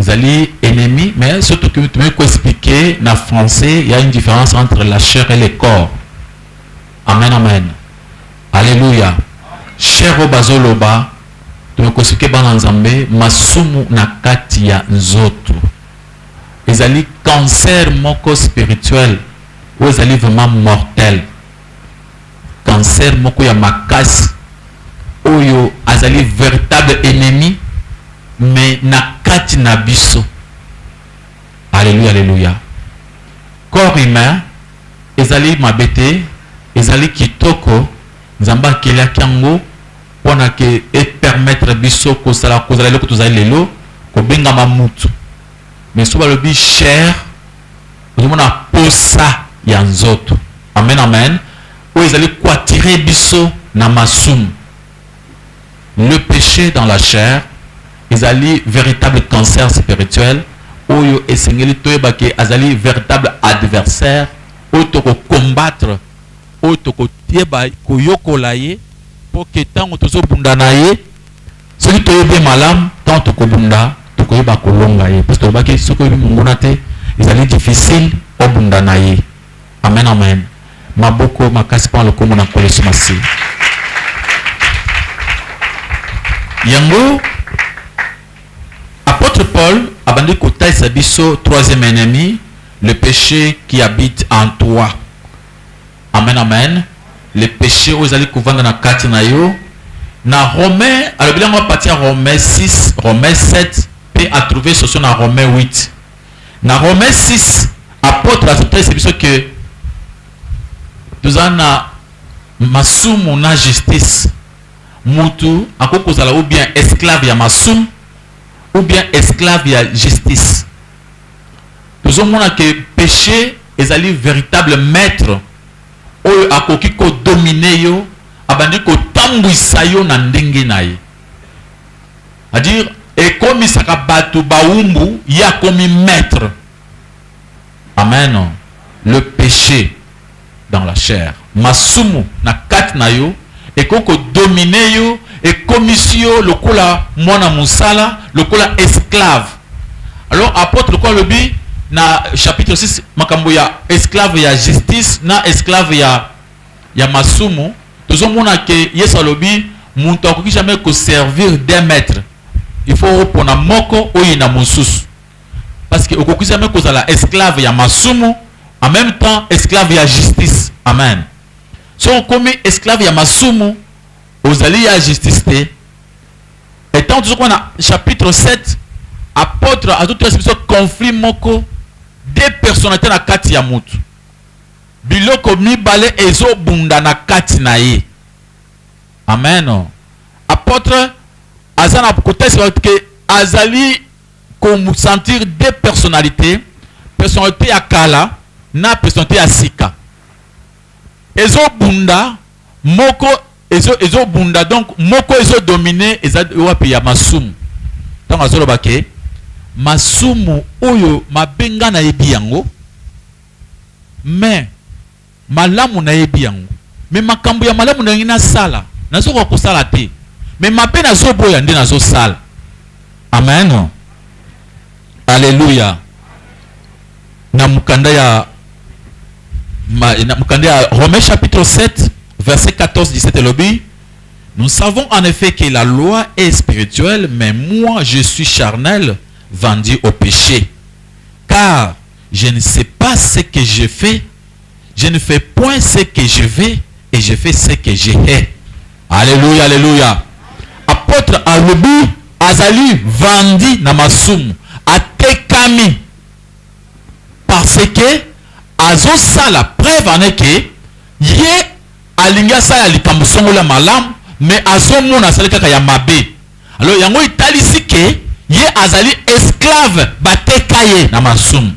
ezali enemi mais soki tokoki ko explique na français ya une différence entre la chair et le corps amen amen alleluia chair oyo bazoloba tokoki koexplike bana nzambe masumu na kati ya nzoto ezali cancer moko spirituel oyo ezali vraiment mortel cancer moko ya makasi oyo azali veritable enemi me na kati na biso aleluya aleluya corps humain ezali mabe te ezali kitoko nzambe akelaki yango mpona ke epermettre biso kozala kozala eloko tozali lelo kobengama mutu me so balobi chere Ozomona posa ya nzoto. Amen amen oyo ezali quatire biso na masumu le peche dans la chair ezali veritable cancer spirituel oyo esengeli toyeba ke azali veritable adversaire oyo toko combattre oyo toko yeba koyokola ye po ke tango tozobunda na ye Soki toyebi ye malamu, ntango tokobunda, tokoyeba kolonga ye, parce que tolobaki soki oyebi monguna te, ezali difficile obunda na ye. Amen, amen. Maboko makasi mpo na lokumu na Nkolo Yesu Masiya. Yango apotre Paul abandi kotalisa biso troisième ennemi, le peche qui habite en toi. Amen amen le peche oyo ezali kovanda na kati na yo na rome alobeli yango apatia rome 6 rome 7 pe a trouve solution na rome 8 na rome 6 apotre azotalisa biso ke toza na masumu na justice mutu akoki kozala ou bien esclave ya masumu ou bien esclave ya justice Tozo mona que peche ezali veritable maitre oyo akoki ko dominer yo, abandi ko tambwisa yo na ndenge na ye. A dire ekomisaka batu bawumbu, ye akomi maitre. Amen. Le peche dans la chair masumu na kati na yo ekoki ko dominer yo ekomisi yo lokola mwana mosala lokola esclave alors apotre lokola alobi na chapitre 6 makambo ya esclave ya justice na esclave ya ya masumu tozomona ke yesu alobi moto akoki jamais koservir deux maître il faut opona moko oyina mosusu parce que okoki jamais kozala esclave ya masumu en même temps esclave ya justice amen soki okomi esclave ya masumu ozali ya justice te etant tozokuwa na chapitre 7 apôtre azotoyasi biso conflit moko de personnalité na kati ya motu biloko mibale ezobunda na kati na ye amen apôtre aza na kotalisa bato ke azali ko sentir deux personnalites, personnalite ya kala na personnalite ya sika ezo bunda moko ezo ezo bunda donc moko ezo domine eza wapi ya masumu ntango azoloba ke masumu oyo mabe nga nayebi yango mais Malamu nayebi yango mais makambu ya malamu nalingi nasala nazo koka kosala te mais mabe nazo boya nde nazo sala amen alleluia na mukanda ya ma, na mukanda ya Romains chapitre 7 verset 14 17 elobi nous savons en effet que la loi est spirituelle mais moi je suis charnel vendu au péché car Je ne sais pas ce que je fais Je ne fais point ce que je vais et je fais ce que je hais. Alléluia, alléluia. Apôtre alobi azali vandi na masumu, atekami parce que azosala preuve en est que ye alingi asala likambo songo la malamu mais azomona asali kaka ya mabe Alors yango italisi ke ye azali esclave bateka ye na masumu.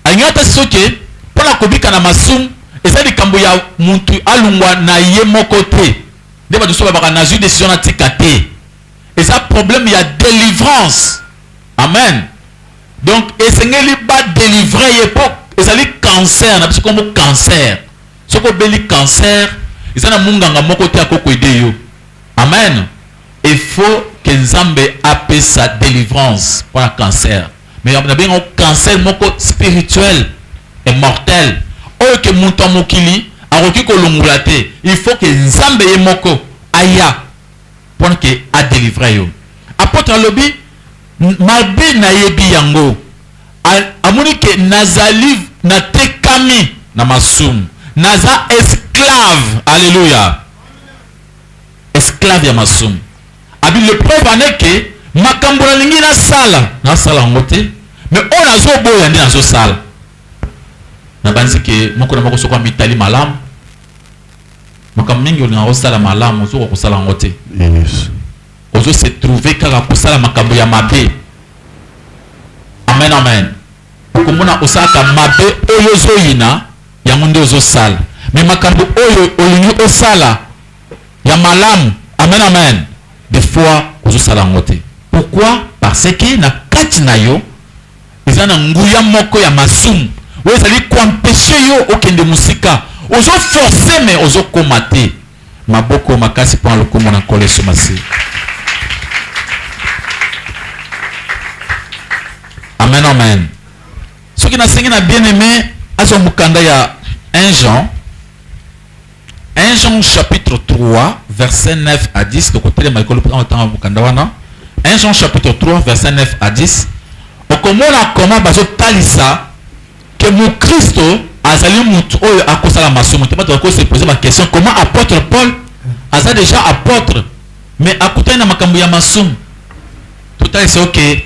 Alingi ata soki mpo na kobika na masumu eza likambo ya mutu alungwa na ye moko te. Nde bato mosusu balobaka nazwi decision natika te. Eza problème ya delivrance. Amen. Donc esengeli ba delivrer ye mpo ezali cancer na biso kombo cancer. Soki obeli cancer eza na munganga moko te akoki ko aider yo. Amen il faut que nzambe apesa delivrance pona cancer mais na benga ngo cancer moko spirituel et mortel oyo ke mutu ya mokili akoki kolongola te il faut que nzambe ye moko aya pona ke a delivre yo apotre alobi mabe na yebi yango amoni ke nazali na tekami na masumu naza esclave alleluia esclave ya masumu abi le preuve en est que makambo nalingi nasala nasala yango te mais oyo nazoboya nde nazosala nabanzi ke moko na moko soko amitali malamu makambo mingi olingaka kosala malamu ozokoka kosala yango te yes. ozo se trouve kaka kosala makambo ya mabe amen amen okomona osalaka mabe oyo ozoyina yango nde ozo sala mais makambo oyo olingi osala ya malamu amen amen de fois ozo sala yango te pourquoi parce que na kati na yo eza na nguya moko ya masumu oyo ezali koempeshe yo okende mosika ozo force me ozokoma te maboko makasi mpo na lokumu na nkolo yesu masiya amen amen Soki nasengi na bien-aime azwa mokanda ya 1 Jean, 1 Jean chapitre 3 verset 9 à 10, tokotelema likolo mpo tanga mokanda wana. 1 Jean chapitre 3 verset 9 à 10, okomona koma bazotalisa ke mokristo azali motu oyo akosala masumu te. Bato bakoki sepose baquestion, comment apôtre Paul aza déjà apôtre mais akutani na makambo ya masumu? Totalisa oke okay.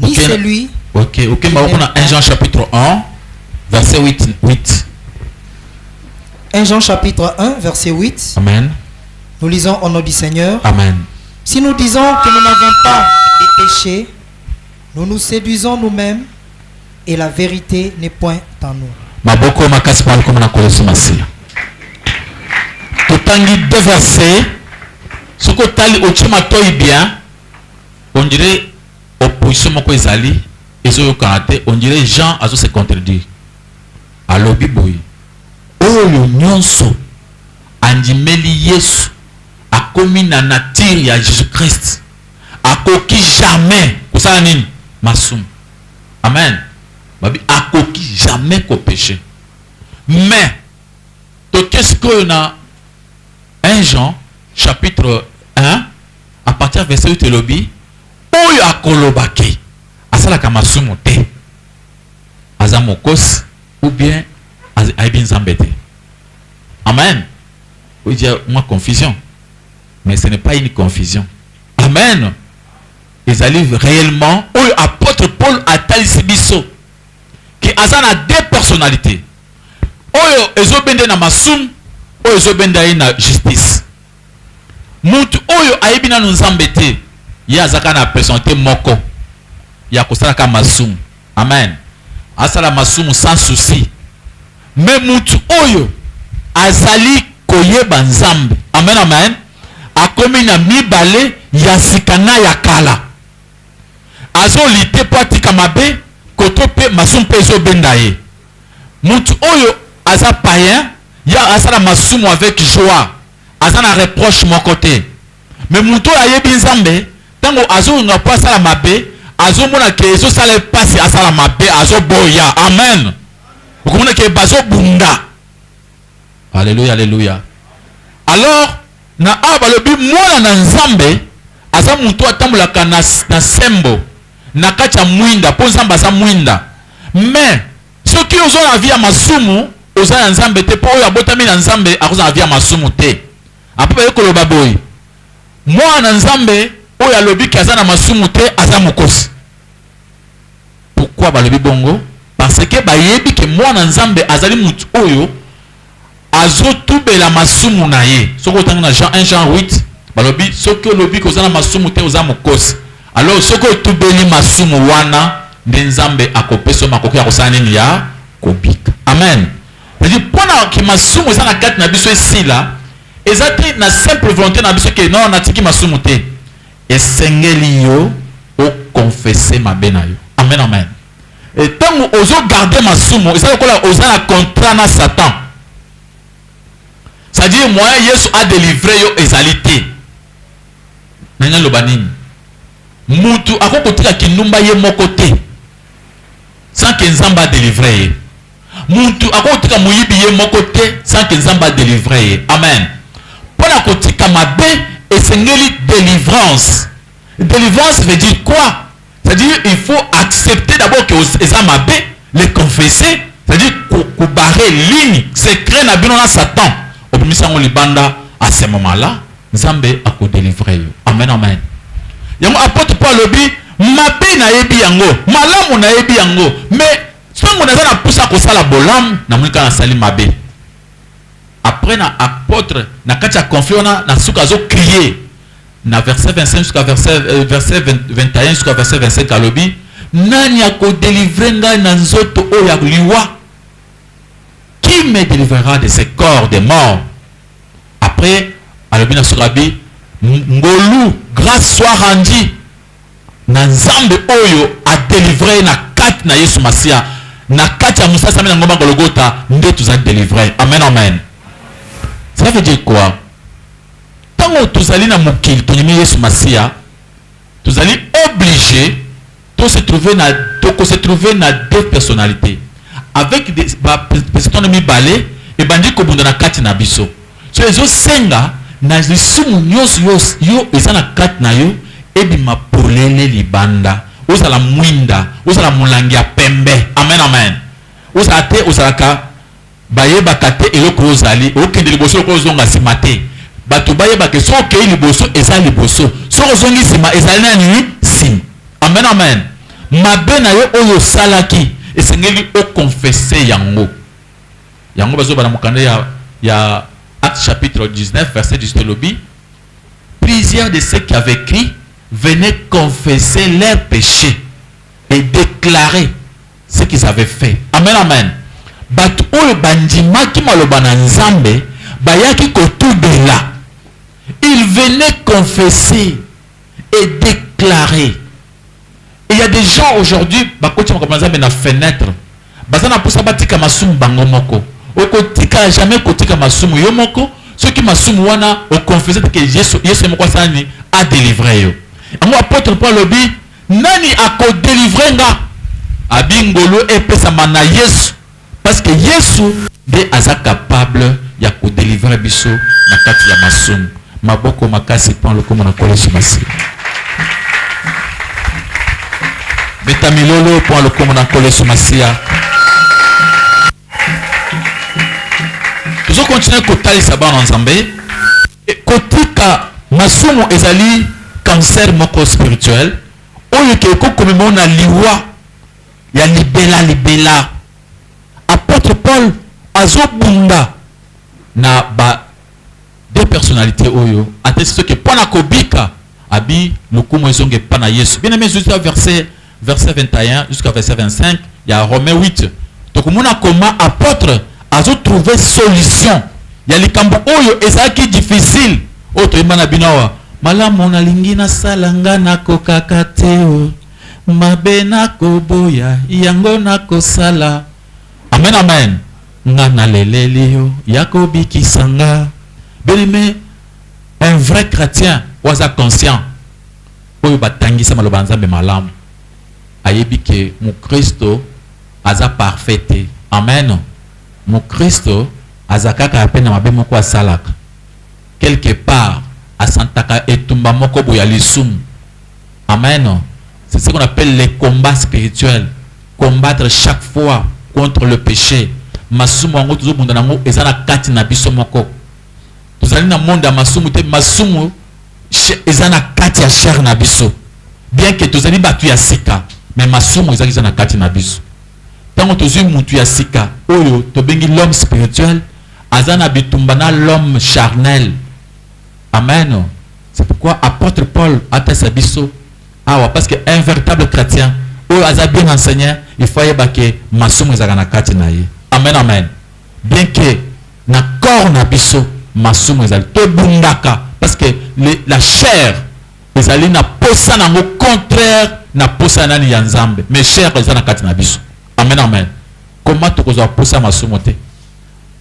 ni celui Ok, ok, mais on a 1 Jean chapitre 1, verset 8. 8. 1 Jean chapitre 1, verset 8. Amen. Nous lisons au nom du Seigneur. Amen. Si nous disons que nous n'avons pas de péché, nous nous séduisons nous-mêmes et la vérité n'est point en nous. maboko makasi mpo alikoma na nkolo yesu masiya totangi deux verse soki otali otie matoi bien On dirait opposition moko ezali ezo yokana te on dirait Jean azo se contredire alobi boye oyo nionso andimeli Yesu akomi na nature ya Jesus Christ akoki jamais kosala nini masumu amen babi akoki jamais ko peche mais toke sikoyo na 1 Jean chapitre 1 à partir ya verset 8 elobi oyo akoloba ke asalaka masumu te aza mokosi ou bien ayebi nzambe te amen oyo dia mwa confusion mais ce n'est pas une confusion amen ezali réellement oyo apôtre paul atalisi biso ke aza na deux personnalités oyo ezobende na masumu oyo ezobenda ye na justice Mutu oyo ayebi nanu nzambe te ye aza kaka na pesonalite moko ya kosala kaka masumu amen asala masumu sans souci mais mutu oyo azali koyeba nzambe amen amen akomi na mibale ya sika na ya kala azo lite po atika mabe koto pe masumu pe ezo benda ye mutu oyo aza paien Ya asala masumu avec joie aza na reproche moko te mais mutu oyo ayebi nzambe tango azo yonga po asala mabe azo mona ke ezo sala ye pasi asala mabe azo boya amen okomona ke bazo bunda alleluia alleluia alors na awa balobi mwana na nzambe aza mutu atambolaka na, na sembo na kati ya mwinda po nzambe aza mwinda mais Soki ozo na vie ya masumu oza ya nzambe te po oyo abotami na nzambe akozala na vie ya masumu te après baye koloba boye mwana na nzambe oyo alobi ke aza na masumu te aza mokosi pourquoi balobi bongo parce que bayebi ke mwana nzambe azali mutu oyo Azotubela masumu na ye. Soki otangi na Jean 1 Jean 8 balobi soki olobi ke oza na masumu te oza mokosi. Alors soki otubeli masumu wana nde Nzambe akopesa yo makoki ya kosala nini ya kobika. Amen. C'est à dire pona ke masumu eza na kati na biso esila eza te na simple volonte na biso ke non natiki masumu te. Esengeli yo o confesser mabe na yo. Amen amen. Et tango ozo garder masumu eza lokola oza na contrat na satan. C'est à dire moyen yesu a delivrer yo ezali te. Nalingi na loba nini? Mutu akoki kotika kindumba ye moko te sans que nzambe a delivrer ye. Mutu akoki kotika moyibi ye moko te sans que nzambe a delivrer ye. Amen. Pona kotika mabe esengeli delivrance. Delivrance veut dire quoi? C'est-à-dire, il faut accepter d'abord que eza mabe, le confesser, c'est-à-dire ko barrer ligne, secret na bino na Satan. Obimisa ngo libanda à ce moment-là, Nzambe ako délivrer yo. Amen amen. Yango apôtre Paul lobi mabe nayebi yango, malamu nayebi yango, mais ntango naza na mposa kosala bolamu namoni kaka nasali mabe après na apôtre na kati ya conflit wana na suka azokrie na verset 25 jusqu'à verset, euh, verset 20, 21 jusqu'à verset 25 alobi nani akodelivre ngai na nzoto oyo ya liwa qui me délivrera de ce corps de mort après alobi na surabi ngolu grâce soit rendue na nzambe oyo adelivre ye na kati na yesu masiya na kati ya mosasami na ngomba gologota nde tozali delivre amen amen ça veut dire quoi Tango tozali na mokili tondimi Yesu Masiya, tozali oblige to se trouver na toko se trouver na deux personnalites avec des ba personnalites wana mibale ebandi kobunda na kati na biso. So ezosenga na lisumu nionso yo yo eza na kati na yo ebima polele libanda. Ozala mwinda, ozala molangi ya pembe, amen amen, ozala te ozalaka. Bayebaka te eloko oyo ozali. Okende liboso lokola ozonga sima te. Bato bayeba ke soki okeyi liboso eza liboso. Soki ozongi sima ezali na nini? Sima. Amen amen. Mabe na yo oyo osalaki esengeli o confesser yango. Yango bazo loba na mokanda ya ya Actes chapitre 19 verset 18 elobi Plusieurs de ceux qui avaient cru venaient confesser leurs peches. et declarer ce qu'ils avaient fait. Amen amen batu oyo bandimaki maloba na nzambe bayaki kotubela il venait confesser et declarer il ya des gens aujourd'hui bakoti makambo na nzambe na fenetre baza na mposa batika masumu bango moko okotika jamais kotika masumu yo moko soki masumu wana oconfese teke yesu yesu ye moko asalani adelivre yo yango apotre mpo alobi Nani ako delivre nga? Abi ngolu epesama na yesu parce que yesu nde aza capable ya ko delivre biso na kati ya masumu. Maboko makasi pon lokumu na nkolo yesu masiya. Beta milolo pon lokumu na nkolo yesu masiya. Tozo continuer kotalisa bana nzambe. Kotika masumu ezali cancer moko spirituel oyo ke ekoki komema yo na liwa ya libela libela. Apotre Paul azo bunda na ba deux personnalites oyo, atesi biso ke pona kobika, Abi lokumu ezonga epa na yesu bien aime zuisa verset verset 21 jusqu'à verset 25 ya romain 8 tokomona comment apotre azo trouve solution ya likambo oyo ezalaki difficile oyo toyemba na bino awa malamu nalingi nasala nga nakokaka te o mabe nakoboya yango nakosala amen amen nga naleleli yo ya kobikisa nga bien aime Un vrai chretien oyo aza conscient, oyo ba tangisa maloba ya Nzambe malamu, ayebi que mukristo aza parfait te. Amen! Mukristo aza kaka pe na mabe moko asalaka. Quelque part, a santaka etumba moko boye ya lisumu. Amen! C'est ce qu'on appelle le combat spirituel. Combattre chaque fois contre le peche. Masumu yango tozo bunda na yango eza na kati na biso moko. tozali na monde ya masumu te masumu eza na kati ya chair na biso bien que tozali bato ya sika me masumu ezali eza na kati na biso ntango tozwi mutu ya sika oyo tobengi l'homme spirituel aza na bitumba na l'homme charnel amen c'est pourquoi apôtre paul atasa biso awa parce que un véritable chrétien oyo aza bien enseigné il faut ayeba ke masumu ezalaka na kati na ye amen amen Bien que na corps na biso masumu ezali, tobundaka parce que le, la chair ezali na posa na yango contraire na posa ya nani? Ya Nzambe. Mais chair eza na kati na biso. Amen, amen. Comment tokozwa posa ya masumu te?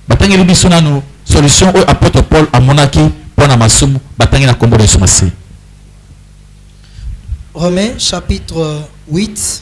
Batangeli biso nanu solution oyo apôtre Paul amonaki mpo na masumu, batangi na kombo na Yesu Masiya. Romains chapitre 8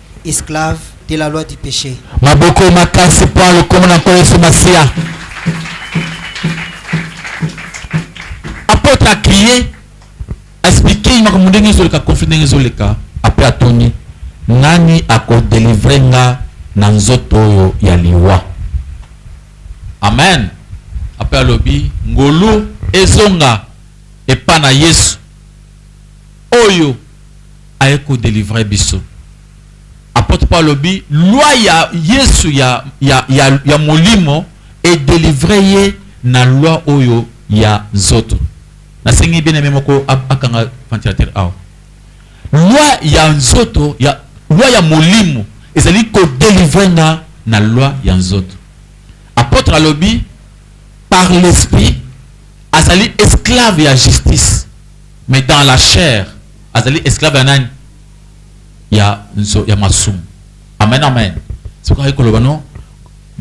esclave de la loi du peche. Maboko makasi mpo ya lokomo na Nkolo Yesu Masiya. Apotre a crier, a expliquer makambo ndenge ezoleka, conflit ndenge ezoleka, après atuni nani akodelivre nga na nzoto oyo ya liwa. Amen. Après alobi ngolu ezonga epa na Yesu oyo aye ko delivrer biso. Apotre Paul alobi loi ya Yesu ya, ya, ya, ya molimo e delivrer ye na loi oyo ya nzoto. Nasengi bien aime moko akanga ventilateur awa. Loi ya nzoto ya loi ya molimo ezali ko delivrer nga na loi ya nzoto. Apotre alobi par l'esprit azali esclave ya justice mais dans la chair azali esclave ya nani ya nzo ya masumu amen amen soki ayi koloba no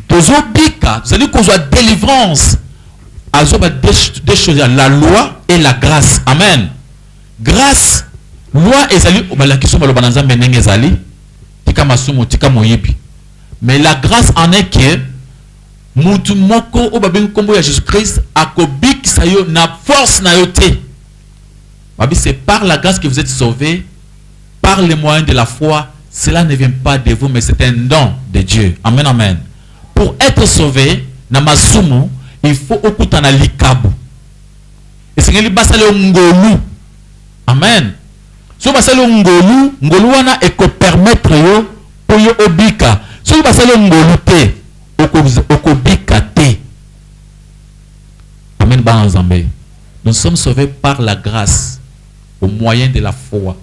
tozobika tozali kozwa délivrance azoba deux choses ya la loi et la grâce amen grâce loi ezali balakisi maloba na nzambe ndenge ezali tika masumu tika moyibi mais la grâce en est que mutu moko oyo babengi nkombo ya jésus christ akobikisa yo na force na yo te Babi c'est par la grace que vous etes sauve par le moyen de la foi cela ne vient pas de vous mais c'est un don de Dieu amen amen pour être sauve na masumu il faut okutana likabo esengeli basala yo ngolu amen soki basali yo ngolu ngolu wana ekopermettre yo mpo yo obika soki basali yo ngolu te okobika te amen bana nzambe Nous sommes sauves par la grace au moyen de la foi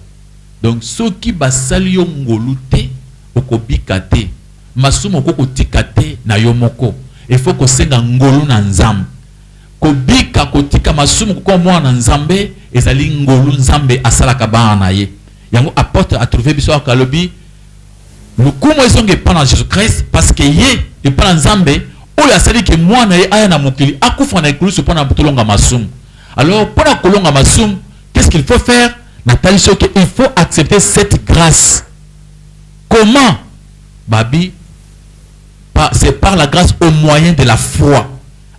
donc soki basali yo ngolu te okobika te masumu okoki kotika te na yo moko il faut kosenga ngolu na nzambe kobika kotika masumu kokoma mwana na nzambe ezali ngolu nzambe asalaka bana na ye yango apotre atrouve biso alobi Lokumu ezonga epai na Jesus Christ parce que ye epai na Nzambe oyo asali que mwana na ye aya na mokili akufa na ekulusu mpo na tolonga masumu. Alors mpo na kolonga masumu qu'est-ce qu'il faut faire? Na tali soki que il faut accepter cette grace. Comment? Ba bi c'est par la grace au moyen de la foi.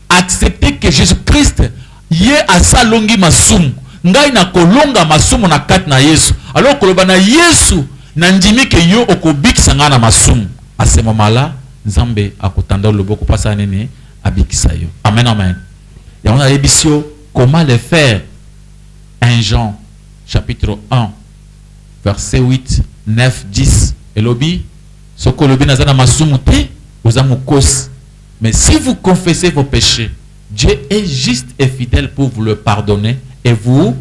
accepter que Jesus Christ ye asa longi masumu ngai na kolonga masumu na kati na Yesu alors koloba na Yesu na ndimi que yo okobikisa ngai na masumu a ce moment là Nzambe akotanda yo loboko po asala nini abikisa yo amen amen yango na yebisi yo comment le faire 1 Jean chapitre 1 verset 8 9 10 elobi soki olobi naza na masumu te oza mokosi Mais si vous confessez vos peches, Dieu est juste et fidèle pour vous le pardonner et vous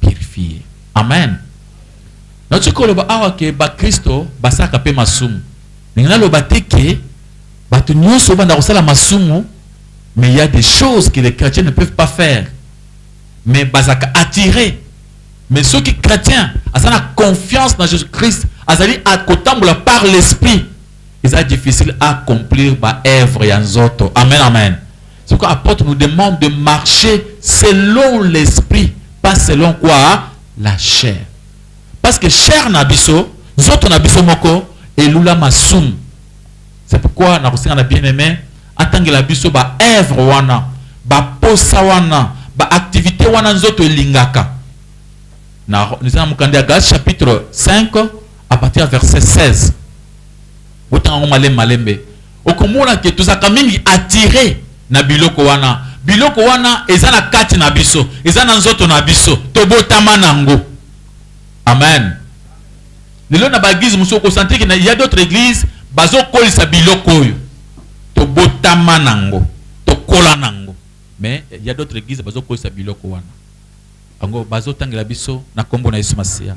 purifier. Amen. Naoki koloba awa ke bakristo basalaka mpe masumu. Ndenge naloba te ke bato nyonso banda kosala masumu, mais il y a des choses que les chrétiens ne peuvent pas faire. Mais bazalaka attirés mais ceux qui chrétiens, à la confiance dans Jésus-Christ, azali à la par l'esprit. eza difficile a complir ba œuvre ya nzoto amen amen soko apotre nous demande de marcher selon l'esprit pas selon quoi la chair parce que chair na biso nzoto na biso moko elula masumu c'est pourquoi na kosenga na bien aimé atangela biso ba œuvre wana ba posa wana ba activité wana nzoto elingaka na eza na mokanda ya Galatie chapitre 5 à partir ya verset 16 botanga yango malembe malembe okomona ke tozalaka mingi attire na biloko wana biloko wana eza na kati na biso eza na nzoto na biso tobotama nango amen lelo na baeglize mosusu okosantiki na ya d'autres églises bazokolisa biloko oyo tobotama nango tokola nango mais ya d'autres églises bazokolisa biloko wana yango bazotangela biso na nkombo na yesu masiya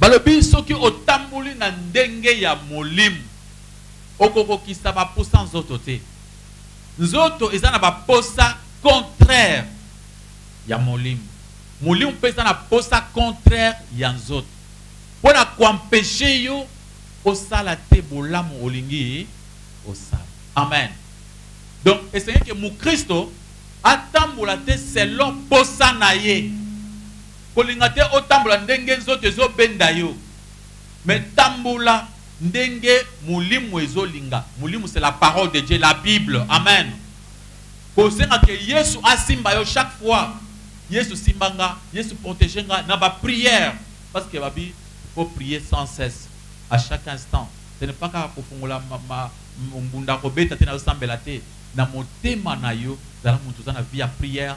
Balobi soki otamboli na ndenge ya molimo, okokokisa ba posa nzoto te. Nzoto eza na ba posa contraire ya molimo. Molimo mpe eza na posa contraire ya nzoto. Mpo na ko empecher yo osala te bolamu olingi osala. Amen. Donc esengeli que mukristo atambola te selon posa na ye. Kolinga te otambola ndenge nzoto ezo benda yo mais tambola ndenge molimu ezo linga molimu c'est la parole de Dieu la bible amen kosenga que yesu asimba yo chaque fois yesu simba nga yesu protege nga na ba prière parce que babi faut prier sans cesse à chaque instant ce n'est pas kaka kofungola ma, ma, mbunda kobeta te nazo sambela te na motema na yo zala mutu oza na vie ya prière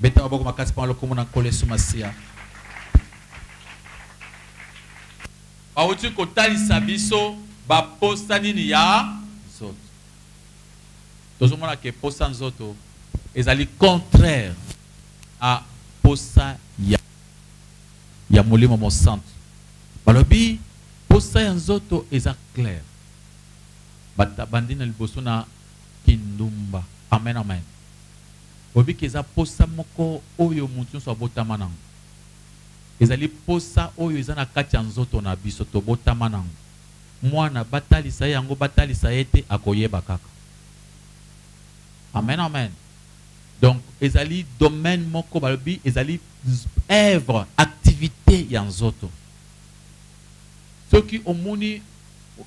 Beta maboko makasi pona lokumu na Nkolo Yesu Masiya. Bawuti kotalisa biso ba posa nini ya nzoto. Tozo mona ke posa nzoto ezali contraire na posa ya ya Molimo Mosantu. Balobi posa ya nzoto eza claire. Bata bandi na liboso na kindumba. Amen amen. Kobika eza mposa moko oyo moto nyonso abotama na yango. Ezali mposa oyo eza na kati ya nzoto na biso, tobotama na yango. Mwana, batalisa ye yango, batalisa ye te, akoyeba kaka. Amen, amen. Donc, ezali domaine moko, balobi, ezali oeuvre, activite ya nzoto. Soki omoni,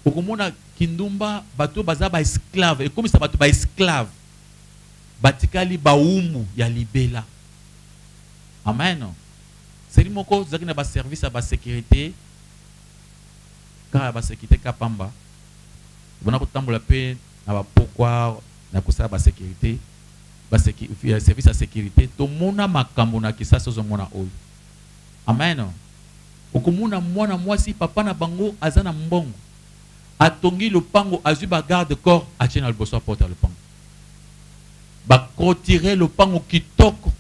okomona kindumba, bato oyo baza ba esclaves, ekomisa bato ba esclaves. batikali bawumbu ya libela. Amen! Seri moko tozalaki na ba service ya ba securite, kaka ya ba securite ka pamba, bana kotambola mpe na ba pokwa na kosala ba securite, ba service ya securite, tomona makambo na kisasa ozomona oyo. Amen! Okomona mwana mwasi papa na bango aza na mbongo, atongi lopango azui ba garde corps atie na liboso ya porte ya lopango ba clotire lopango kitoko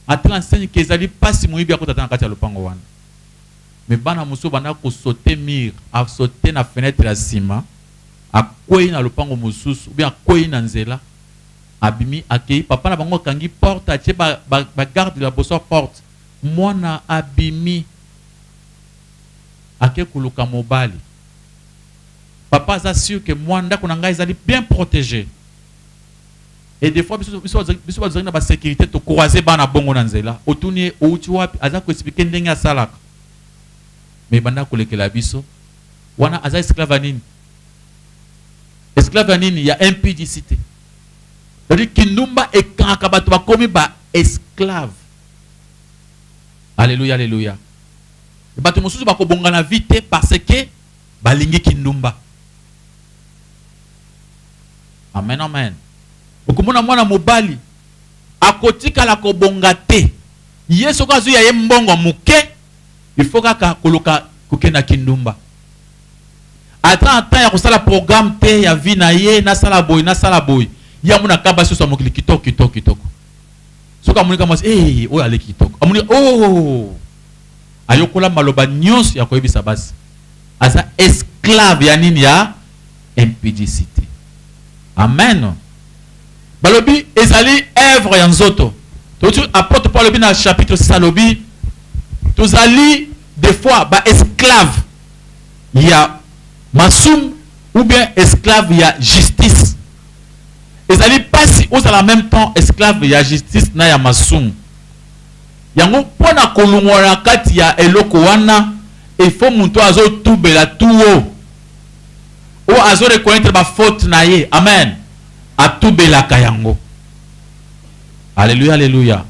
ata na nseni ke ezali pasi moyibi akota ata na kati ya lopango wana me bana mosusu banda kosote mur asote na fenetre ya nsima akwei na lopango mosusu ubien akwei na nzela abimi akei papa na bango akangi porte atie bagarde ba, ba ya boso ya porte mwana abimi ake koluka mobali papa aza sur que moi ndako na ngai ezali bien protege et des fois biso biso biso bazali na ba sécurité to croiser bana bongo na nzela otuni ye outi wapi aza ko expliquer ndenge asalaka mais banda kolekela biso wana aza esclave nini esclave nini ya impudicité c'est-à-dire kindumba ekangaka bato bakomi ba esclave Alléluia, Alléluia. Batu mosusu bako bonga na vie te parce que balingi kindumba. Amen amen. Okomona mwana mobali akotikala kobonga te ye soki azwi ya ye mbongo moke ifo kaka koluka kokende na kindumba ata na temps ya kosala programme te ya vie na ye nasala boye nasala boye ye amona kaba soso ya mokili kitoko kitoko kitoko soki amoni ka mwasi ee oyo aleki kitoko amoni oh ayokola maloba nyonso ya koyebisa basi aza esclave ya nini ya impudicité amen balobi ezali œuvre ya nzoto toyoki apôtre paul alobi na chapitre 6 alobi tozali des fois ba esclave ya masumu ou bien esclave ya justice ezali pasi ozala meme temps esclave ya justice na ya masumu yango mpo na kolungwa na kati ya eloko wana efo moto oyo azotubela tuo oyo azo reconnaitre bafaute na ye amen atubelaka yango aleluya aleluya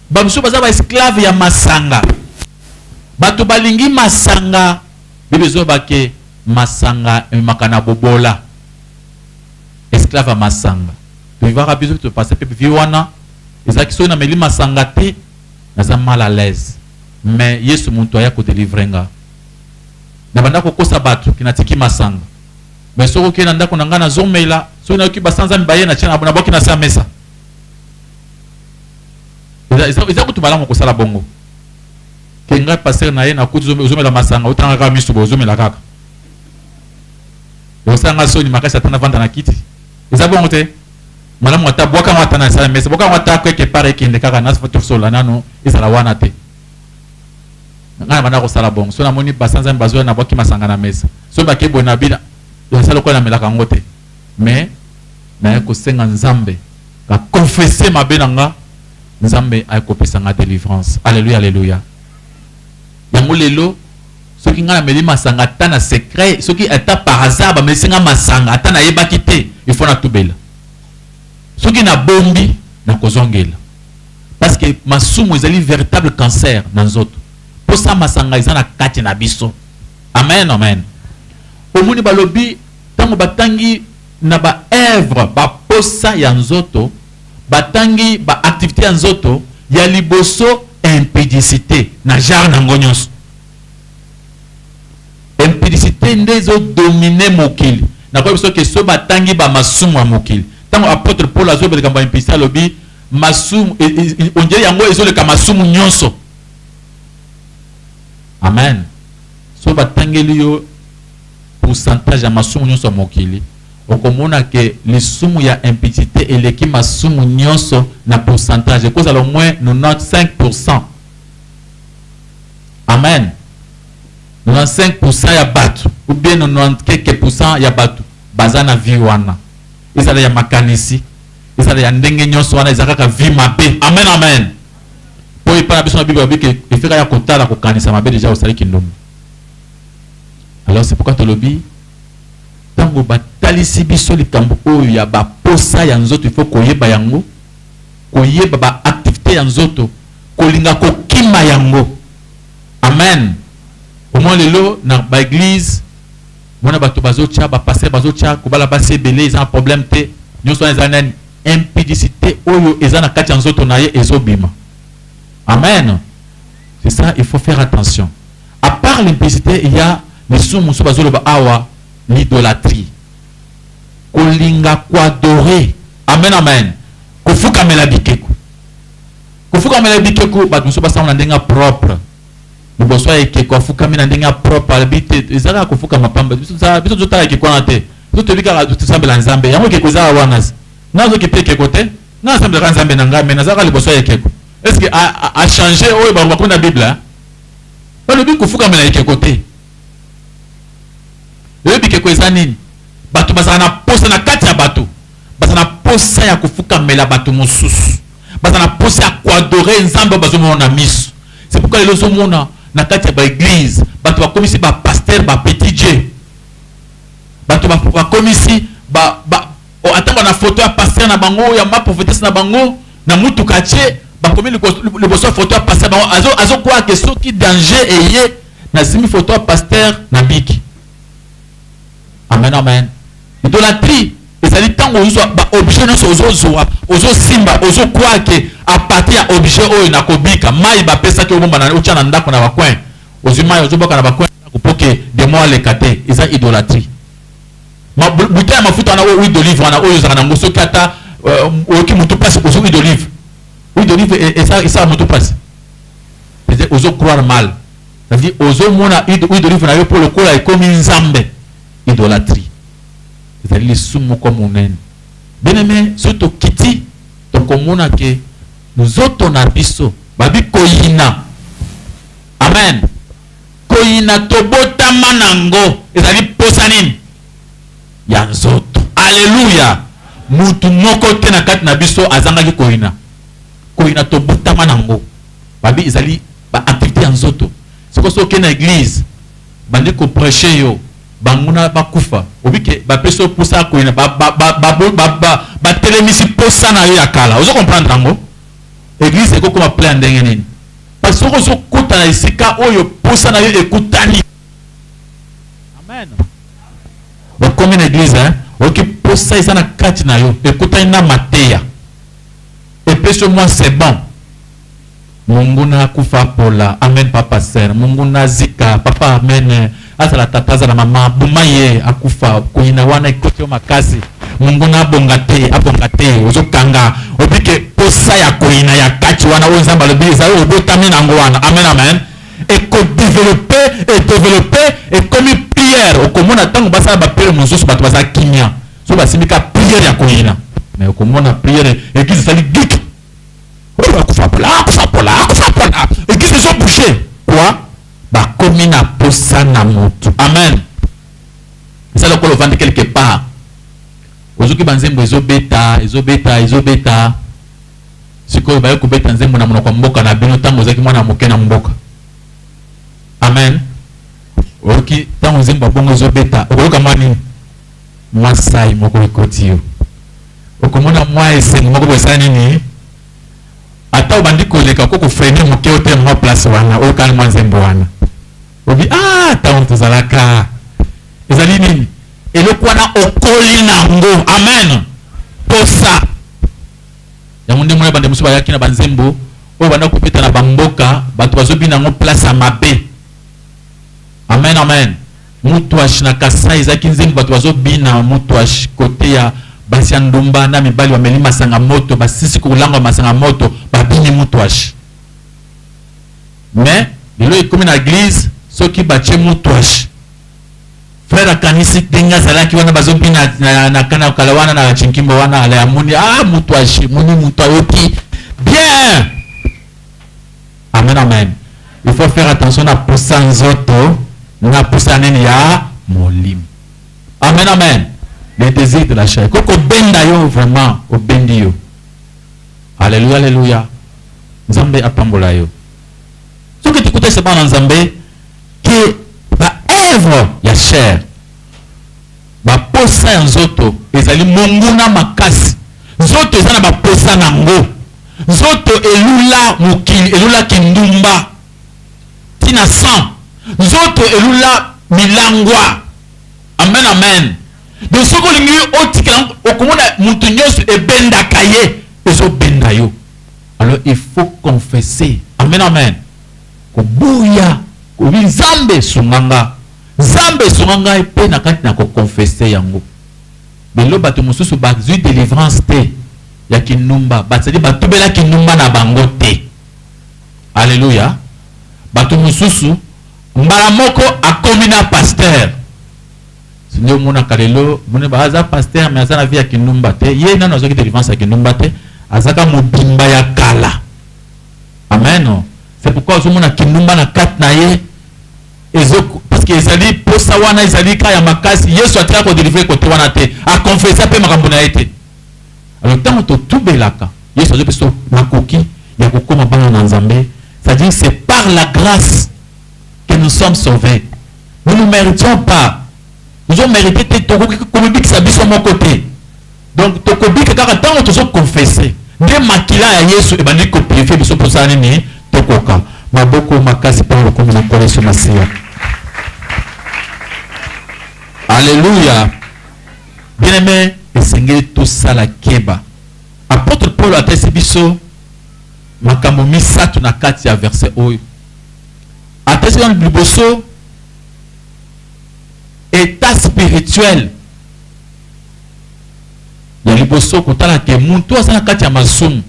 bamosusu baza baesclave ya masanga bato balingi masanga Bible ezoba ke masanga ememaka na bobola, esclave ya masanga. To vivaka biso pe to passer pe vie wana, eza ke soki na meli masanga te naza mal à l'aise mais yesu mutu aya ko delivrer nga. Na banda ko kosa batu ke na tiki masanga mais soki okeyi na ndaku na nga nazo mela, soki na yoki ba sanza mibaye na tia na buaki na se ya mesa. Eza kutu malamu ko sala bongo. que nga pasteur naye na kuti ozo mela masanga otala nga kaka misu boye ozo mela kaka osala nga soni makasi ata na vanda na kiti eza bongo te malamu ata bwaka ngo ata na sala mesa bwaka ngo ata quelque part ekende kaka na tosola nano ezala wana te nga na banda kosala bongo so namoni basanza bazoya na bwaki masanga na mesa so bake boye na bina yasa lokola namelaka ngo te mais naye kosenga nzambe ka confesse mabe na nga nzambe akopesa nga delivrance alleluia alleluia yango lelo soki nga nameli masanga ata na secret soki ata par hasard bamelisi nga masanga ata nayebaki te il faut natubela soki nabombi nakozongela parce que masumu ezali veritable cancer na nzoto posa masanga eza na kati na biso amen amen omoni balobi ntango batangi na baevre baposa ya nzoto batangi ba activites ya nzoto ya liboso impudicite na genre na yango nionso. Impudicite nde ezo dominer mokili. Nakoyeba biso que soki batangi ba masumu ya mokili, tango apotre Paul azoloba likambo ya impudicite alobi masumu on dirait yango ezoleka masumu nionso. Amen. Soki batangeli yo pourcentage ya masumu nionso ya mokili, okomona que lisumu ya impudicite eleki masumu nionso na pourcentage, ekozala au moins 95 pourcent, amen, 95 pourcent ya batu ou bien 90 quelque pourcent ya batu baza na vie wana, ezala ya makanisi, ezala ya ndenge nionso, wana eza kaka vie mabe, amen, amen. Po epai na biso na Bible balobi que efeka ya kotala kokanisa mabe dejà osali kindumba. Alors c'est pourquoi tolobi tango batalisi biso likambo oyo ya ba posa ya nzoto il faut koyeba yango koyeba ba activité ya nzoto kolinga kokima yango amen omwa lelo na ba église mona bato bazotya ba pasteur bazotya kobala basi ebele eza na problème te nyonso wana eza nani impudicité oyo eza na kati ya nzoto na ye ezobima amen c'est ça il faut faire attention A part l'impicite il ya lisumu mosusu bazo loba awa l'idolatrie kolinga ko adorer amen amen kofukamela bikeko kofukamela bikeko bato mosusu basango na ndenge ya propre liboso ya ekeko afukami na ndenge ya propre alobi te eza kaka kofukama pamba biso tozotala ekeko wana te biso toyebi kaka tosambela nzambe yango ekeko eza wana nazoki te ekeko te nga nasambelaka nzambe na ngai me nazalaka liboso ya ekeko estce achange oyo bakomi na bible balobi kofukamela ekeko te lelo bikeko eza nini bato bazala na posa na kati ya bato baza na posa ya kofukamela bato mosusu baza na posa ya koadore nzambe oyo bazomona na miso c'est pourquoi lelo ozomona na kati ya baeglize bato bakomisi bapaster bapetit je bato bakomisi ba, ba, ba O ata ba na photo ya pasteur na bango ya ma prophetesse na bango na mutuka atie ba komi liboso ya photo ya pasteur na bango azo azo croire que soki danger eye na simbi photo ya pasteur na biki. Amen amen. Idolatrie ezali tango ozwa ba objet nionso ozo zwa ozo simba ozo croire que a partir ya objet oyo na kobika mayi ba pesaki obomba na otia na ndako na ba coin ozwi mayi ozo boka na ba coin na ndako po que demon aleka te eza idolatrie. Ma bouteille ya mafuta wana oyo huile d'olive wana oyo ezalaka nango soki ata euh, oyoki mutu pasi ozo huile d'olive huile d'olive e, esa esala mutu pasi c'est ozo croire mal ça veut dire ozo mona huile d'olive na yo po lokola ekomi nzambe idolatrie ezali lisumu moko monene bien aimé soki tokiti tokomona ke nzoto na biso babi koyina amen Koyina tobotama nango ezali posa nini? Ya nzoto. Alleluia! Mutu moko te na kati na biso azangaki koyina. Koyina tobotama nango. Babi ezali ba activites ya nzoto. Sikoyo soki okei na eglise, bandi ko precher yo banguna bakufa, obi ke bapesi yo posa ya koyina, ba, ba, ba, ba, ba, ba, ba, batelemisi posa na yo ya kala. Ozo comprendre yango? Eglise ekokoma plein ya ndenge nini? Pasi soki ozo kota na esika oyo posa nayo ekutani. Amen. Okomi na eglise hein oyoki posa eza na kati na yo ekutani na mateya epesi yo mwa c'est bon. Munguna akufa apola amen papa ser munguna azika papa amen. Azala tata azala mama boma ye akufa koyina wana ekoti yo makasi monguna abonga te abonga te ozokanga obike posa ya koyina ya kati wana oyo nzambe alobi ezali obotami nango wana amen amen ekodevelope edevelope ekomi priere okomona ntango basala bapriere mosusu bato baza kimia so basimbi ka priere ya koyina me okomona priere eglise ezali gik oyo akufa pola akufa pola akufa pola eglise ezobouge kua Bakomi na posa na mutu. Amen eza lokola ovandi quelque part ozuki ba nzembo ezo beta ezo beta ezo beta sikoyo baye kobeta nzembo na monoko ya mboka na bino ntango ozalaki mwana moke na mboka amen oyoki ntango nzembo ya bongo ezo beta okoyoka mwa nini mwa sai moko ekoti yo okomona mwa esengo moko boye esala nini ata obandi koleka oko ko freiner muke o tee mua place wana o kani mua nzembo wana obi ah tango tozalaka ezali nini eloko wana okoli na yango amen posa yango nde mona bande mosusu bayaki na banzembo oyo banda kopeta na bamboka bato bazobina yango place ya mabe amen amen Mutuash na kasai eza ki nzembo batu bazo bina mutuash cote ya basi ya ndumba na mibali bameli masanga moto basisi kolangwa masanga moto ba bini mutuash mais lelo ekomi na eglise soki batie mutuash frère akanisi ndenge azalaki wana bazo bina na, na kana kala wana na chinkimbo wana ala ya moni ah mutuash moni mutu ayoki bien Amen amen il faut faire attention na posa nzoto na posa nini ya molimo amen amen les désirs de la chair ko kobenda yo vraiment obendi yo aleluya aleluya nzambe apambola yo soki tikutese bana nzambe ke ba œuvre ya chair Baposa ya nzoto ezali monguna makasi. Nzoto eza na baposa na yango. Nzoto elula mokili, elula kindumba ti na sang. Nzoto elula milangwa. Amen, amen. Donc soki olingi otikela yango, okomona mutu nionso ebendaka ye, ezobenda yo. Alors il faut confesser. Amen, amen. Koboya, kobi Nzambe sunga nga. Nzambe sunga ngai pe na kati na ko confesse yango lelo batu mususu ba zui delivrance te ya kinumba ba zali ba tubela kinumba na bango te alleluia batu mususu mbala moko akomi na pasteur nde omonaka lelo moni ba aza pasteur mais aza na vie ya kinumba te ye nanu azoki delivrance ya kinumba te azaka mobimba ya kala amen c'est pourquoi ozomona kinumba na kati na ye Ezo parce que ezali posa wana ezali ka ya makasi yesu atika ko delivre kote wana te a confessa pe makambo na ye te alors ntango totubelaka yesu azo biso makoki ya kokoma bana na nzambe c'est à dire c'est par la grâce que nous sommes sauvés nous ne méritions pas tozo merite te tokoki komibikisa biso moko te Donc tokobika kaka ntango tozo confesse nde makila ya Yesu ebandi ko purifier biso mposala nini tokoka. Maboko makasi mpo na lokumu na Nkolo Yesu Masiya. Alleluia! Bien aime, esengeli tosala keba. Apotre Paul atalisi biso makambo misato na kati ya verset oyo. Atalisi biso liboso etat spirituel Ya liboso kotala que mutu aza na kati ya masumu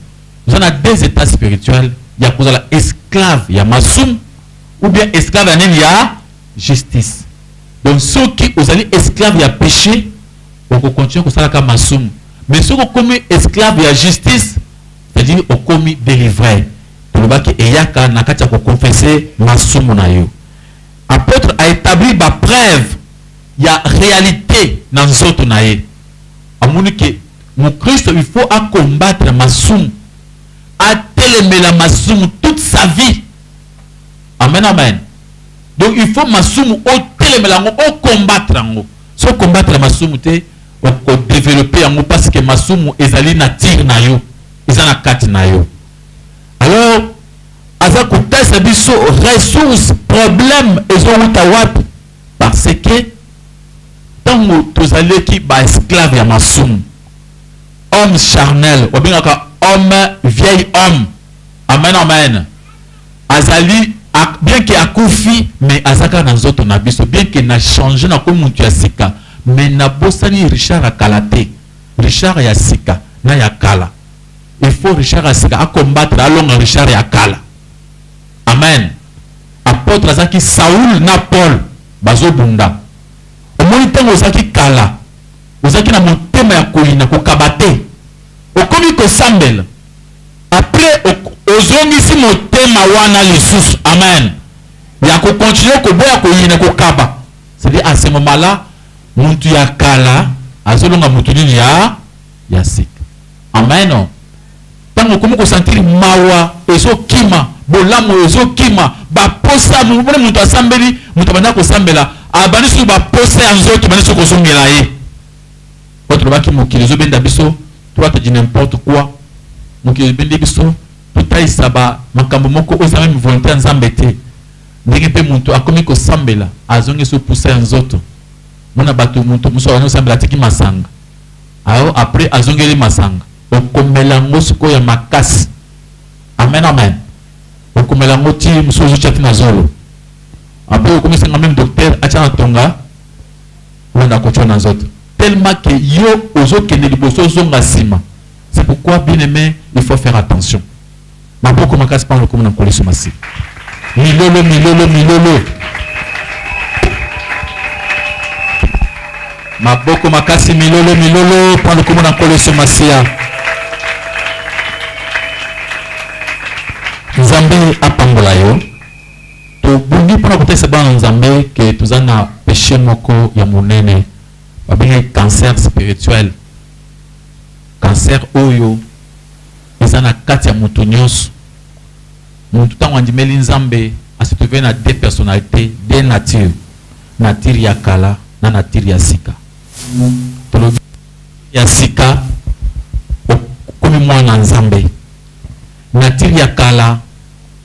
oza na deux etats spirituel ya kozala esclave ya masumu ou bien esclave ya nini ya justice donc soki ozali esclave ya peche okokontinue kosalaka masumu mais soki okomi esclave ya justice c'est-à-dire okomi delivre tolobaki eyaka na kati ya kokonfese masumu na yo Apotre a etablir ba preuves ya realite na nzoto na ye. Amoni que mukristo il faut a combattre masumu, atelemela masumu toute sa vie. Amen amen. Donc il faut masumu otelemela yango, o combattre yango. Soki o combattre masumu te, oko developper yango parce que masumu ezali nature na yo, eza na kati na yo. alors aza kotasa biso ressource problème ezowuta wapi parce que ntango tozalaki baesclave ya masumu homme charnel obengaka homme vieil homme amen amen azali bien ke akufi mais aza kaka na nzoto na biso bien ke na change nakomi motu ya sika mais nabosani richard ya kala te richard ya sika na ya kala il faut Richard ya sika a combattre alonga Richard ya kala amen apotre azalaki Saul na Paul bazobunda omoni ntango ozalaki kala ozalaki na motema ya koyina kokaba te okomi kosambela apres ozongisi motema wana lisusu amen ya kokontinue koboya koyina kokaba cedi a ce moment la mutu ya kala azolonga mutu nini ya ya sika Amen tango okomi ko sentir mawa ezo kima bolamu ezo kima ba posa omoni mutu asambeli mutu abanda ko sambela abandi susu ba posa ya nzoto ebandi susu ko zongela ye po tolobaki mokili ezo benda biso droite du n'importe quoi mokili ebendi biso totalisa ba makambo moko oyo eza meme volonte ya Nzambe te ndenge pe mutu akomi ko sambela azongi susu posa ya nzoto mona batu mutu mususu abandi ko sambela atiki masanga ayo après azongeli masanga okomela yango sikoyo ya makasi amen amen okomela yango ti mosusu ozotya ti na zolo après okomisenga meme docteur atya na tonga wana kotya na nzoto tellement que yo ozokende liboso ozonga nsima c'est pourquoi bien aimé il faut faire attention Maboko makasi pamba lokomo na nkolo yesu masiya milolo milolo milolo maboko makasi milolo milolo pamba lokomo na nkolo yesu masiya nzambe apambola yo tobungi mpona kotalisa bana nzambe ke toza na peshe moko ya monene babengi cancer spirituel cancer oyo Eza na kati ya mutu nionso. Mutu tango andimeli Nzambe a se trouver na deux personnalites, deux natures, nature ya kala na nature ya sika. Tolobi ya sika okomi muana Nzambe. Nature ya kala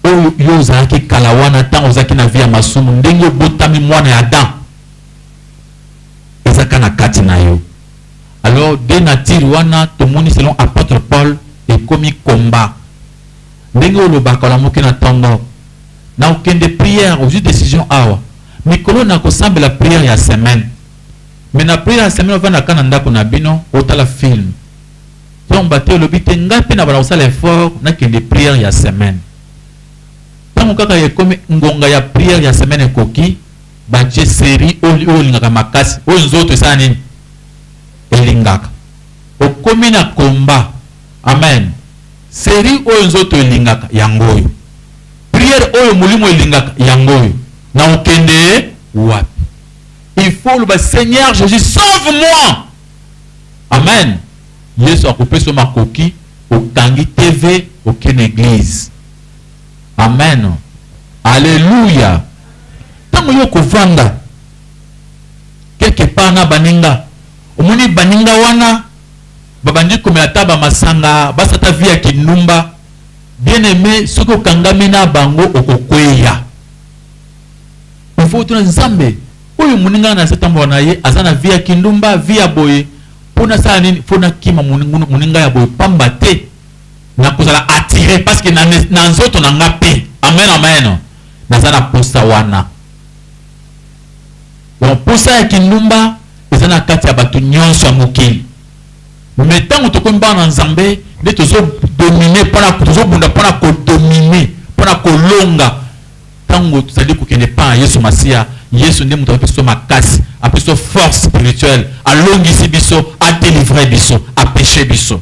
oyo yo ozalaki kala wana tango ozalaki na vie ya masumu ndenge obotami muana ya Adam eza kaka na kati na yo. alors de nature wana tomoni selon apotre Paul ekomi combat ndenge olobaka olamuki na tongo na okende prière ozui decision awa mikolo na kosambela prière ya semaine mais na prière ya semaine ovanda ka na ndako na bino otala film tomba te olobi te ngai mpe na bana kosala effort nakende prière ya semaine ntango kaka ekomi ngonga ya prière ya semaine ekoki Ba je serie oyo olingaka makasi oyo nzoto esala nini elingaka okomi na combat amen serie oyo nzoto elingaka yango oyo prière oyo molimo elingaka yango oyo na okende wapi il faut oloba seigneur jesus sauve moi amen yesu akopesa makoki okangi tv oke na eglise Amen. Alleluia. Tango yo kovanda quelque part na baninga, omoni baninga wana babandi komela ata ba masanga, basa ata vie ya kindumba, bien aime, soki okangami na bango okokweya. Il faut otuna Nzambe, oyo moninga nga nase tambola na ye aza na vie ya kindumba, vie ya boye, mpo nasala nini? Mpo nakima moninga ya boye pamba te na kozala attire parce que na nzoto na nga pe amen amen naza na posa wana donc posa ya kindumba eza na kati ya bato nyonso ya mokili me ntango tokomi bana na nzambe nde tozodomine mpona tozobunda mpona kodomine mpona kolonga ntango tozali kokende mpa na yesu masiya yesu nde moto apeso makasi apeso force spirituelle alongisi biso adelivre biso apeshe biso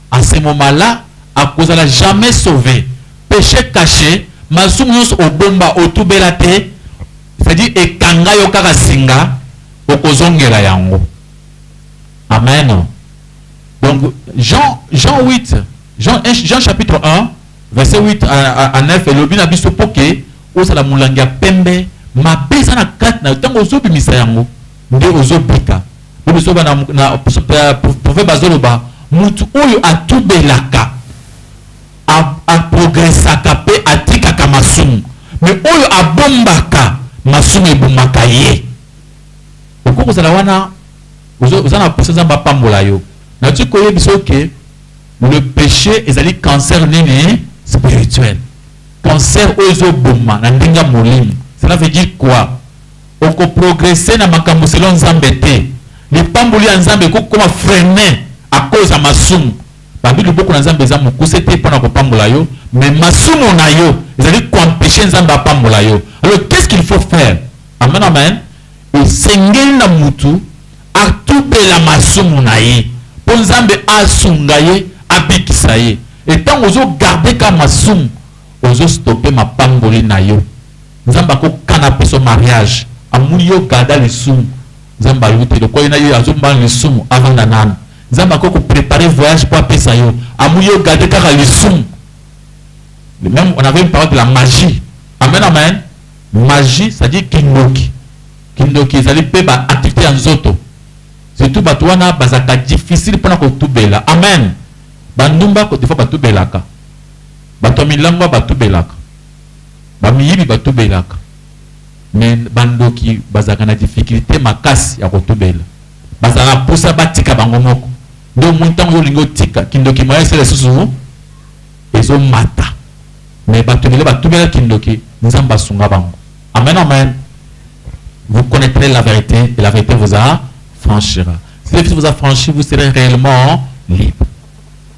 A ce moment là akozala jamais sauve, peche cache, masumu nionso obomba otubela te, c'est à dire ekanga yo kaka singa, okozongela yango. Amen. Donc Jean, Jean 8, Jean, Jean chapitre 1, verset 8 à, à, à 9 elobi na biso mpo ke ozala molangi ya pembe mabe eza na kati na yo ntango ozobimisa yango nde ozo bika yo biso bana na prophète bazo loba mutu oyo atubelaka a, a progressaka pe atikaka masumu mais oyo abombaka masumu ebumaka ye okoki kozala wana oza na posa nzambe apambola yo nati koyebisa oke le péché ezali cancer nini spirituel cancer oyo ezoboma na ndenge ya molimo cela veut dire quoi Oko progresser na makambo selon Nzambe te. Lipamboli ya Nzambe ekoki kokoma freiner à cause ya masumu. Balobi loboko na Nzambe eza mokuse te pona kopambola yo, mais masumu na yo ezali ko empecher Nzambe apambola yo. Alors qu'est-ce qu'il faut faire? Amen amen. Esengeli na mutu atubela masumu na ye po Nzambe asunga ye, abikisa ye. Et tango ozo garder kaka masumu, ozo stopper mapamboli na yo. Nzambe ako kana biso mariage amoni yo garda lisumu nzambe ayebi te lokola ye na yo azo mbana lisumu avanda nanu nzambe ako ko preparer voyage po apesa yo amoni yo garde kaka lisumu même on avait une parole de la magie amen amen magie c'est à dire kindoki kindoki ezali pe ba activité ya nzoto surtout bato wana bazalaka difficile mpona kotubela amen bandumba des fois batubelaka bato ya milangwa batubelaka ba miyibi ba tubelaka mais ba ndoki bazalaka na difficulte makasi ya kotubela bazalaka na posa batika bango moko nde omoni tango olingi otika kindoki moya esala lisusu ezo mata mais batu ebele ba tubela kindoki nzambe asunga bango amen amen vous connaitrez la verite et la verite vous a franchira si la verite vous a franchi vous serez réellement libre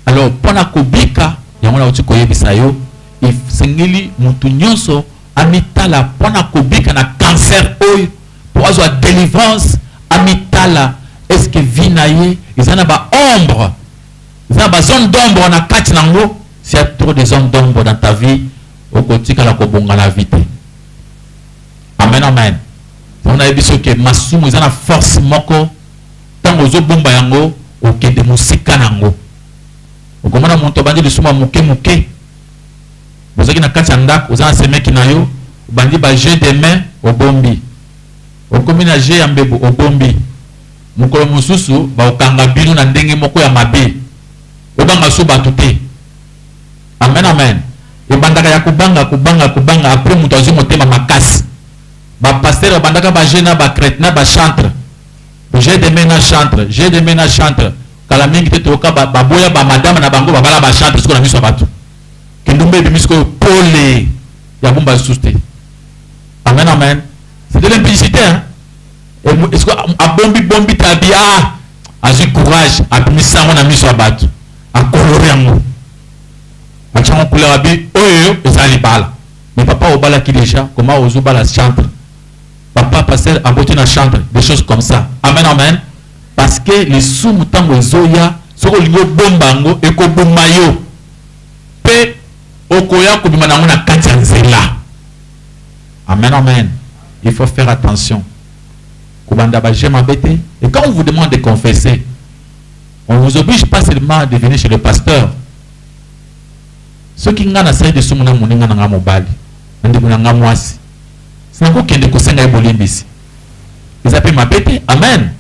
alors pona kobika yango na uti koyebisa yo Esengeli mutu nionso amitala pona kobika na cancer oyo po azwa delivrance amitala est ce que vie na ye eza na ba ombre eza na ba zone d'ombre na kati na ngo s'il ya trop de zone d'ombre dans ta vie okotikala kobonga na vie te amen amen yango nayebi so ke masumu eza na force moko ntango ozobomba yango okende mosika na yango Okomona mutu abandi lisumu ya muke muke, bozalaki na kati ya ndaku, oza na semeki na yo, obandi ba jeux de main, obombi, okomi na jeux ya mbebu, obombi, mukolo mosusu bakokanga bino na ndenge moko ya mabe, bobanga lisusu batu te. Amen, amen. Ebandaka ya kobanga, kobanga, kobanga, apres mutu azwi motema makasi. Ba pasteur babandaka ba jeux na ba cret, na ba chantre, jeux de main na chantre, jeux de main na chantre, Kala mingi te toyoka baboya ba madame na bango babala ba chante sikoyo na miso ya batu. Kindumba ebimi sikoyo pole ya bumba lisusu te. Amen amen. C'est de l'implicité hein. Esiko abombi bombi tabi ah azwi courage abimi sango na miso ya batu. Akolori yango. Achango couleur abi oyo eza libala. Mais papa obalaki déjà comment ozo bala chantre? Papa pasteur aboti na chantre des choses comme ça. Amen amen. Parce que lisumu tango ezoya soki olingi obomba yango ekobuma yo pe okoya kobima na yango na kati ya nzela. Amen amen il faut faire attention kobanda ba jeux mabe te et quand on vous demande de confesser on vous oblige pas seulement de venir chez le pasteur soki ngai nasali lisumu na moninga na ngai mobali na ndeko na ngai mwasi sinakokende kosenga ye bolimbisi eza pe mabe te amen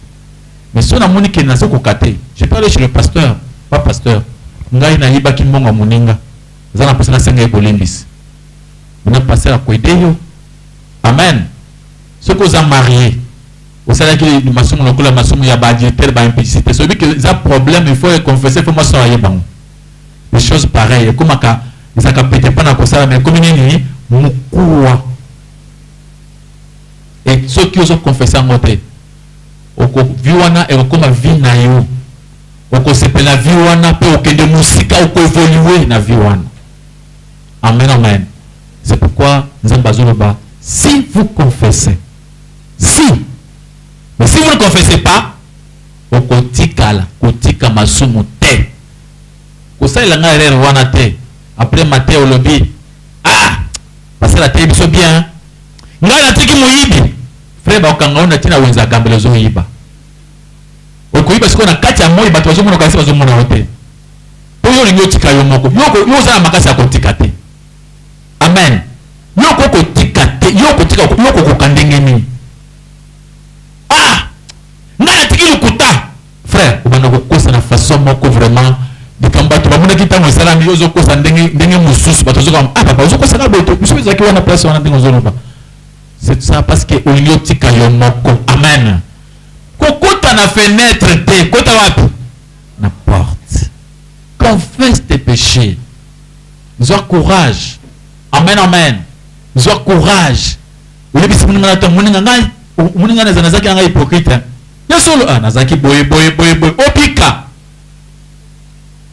mais so namoni ke nazo koka te je peux aller chez le pasteur pa pasteur ngai nayibaki mbongo ya moninga eza na posa nasenga ye bolimbisi na pasteur akoede yo amen soki oza marie osalaki masumu lokola masumu ya baadultère baimplicité soyebi ke eza problème il faut econfesse fo mwasi aye bango des choses pareilles ekomaka ezalaka pete mpo na kosala mais ekomi nini mokuwa et soki ozo confesse yango te oko vie wana ekokoma vie nayo okosepela vie wana pe okende musika oko evolue na vie wana amen amen c'est pourquoi nzambe azoloba si vous confessez si mais si vous ne confessez pas okotikala kotika masumu te kosalela ngai erreur wana te après mate olobi ah basala te biso bien Ngai natiki moyibi. Frère bakokanga yo na tina wenza agambela ozoyiba. Okoyiba sikoyo na kati ya moi bato bazomona okanisi bazomona yo te. Po yo olingi otika yo moko. Yo yo oza na makasi ya kotika te. Amen. Yo okoki kotika te. Yo okotika yo okokoka ndenge nini? Ah! Ngai natiki lokuta. Frère obanda kokosa na façon moko vraiment likambo batu bamonaki tango esalami yo ozokosa ndenge ndenge mususu batu bazoka ah papa ozokosa na boye te biso ezalaki wana place wana ndenge ozoloba c'est ça parce que olingi otika yo moko amen kokota na fenêtre te kota wapi na porte confesse tes péchés zwa courage amen amen zwa courage oyebisi moninga na to moninga ngai moninga na zanazaki na ngai hypocrite Ya solo ah nazalaki boye boye boye boye obika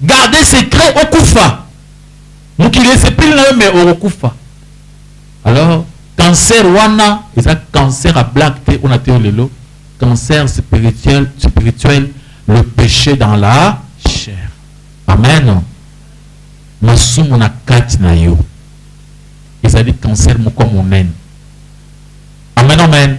garde secret okufa mokili esepeli na yo mais okokufa alors cancer wana eza cancer ya black te ona te yo lelo cancer spirituel spirituel le péché dans la chair amen masumu na kati na yo ezali cancer moko monene amen amen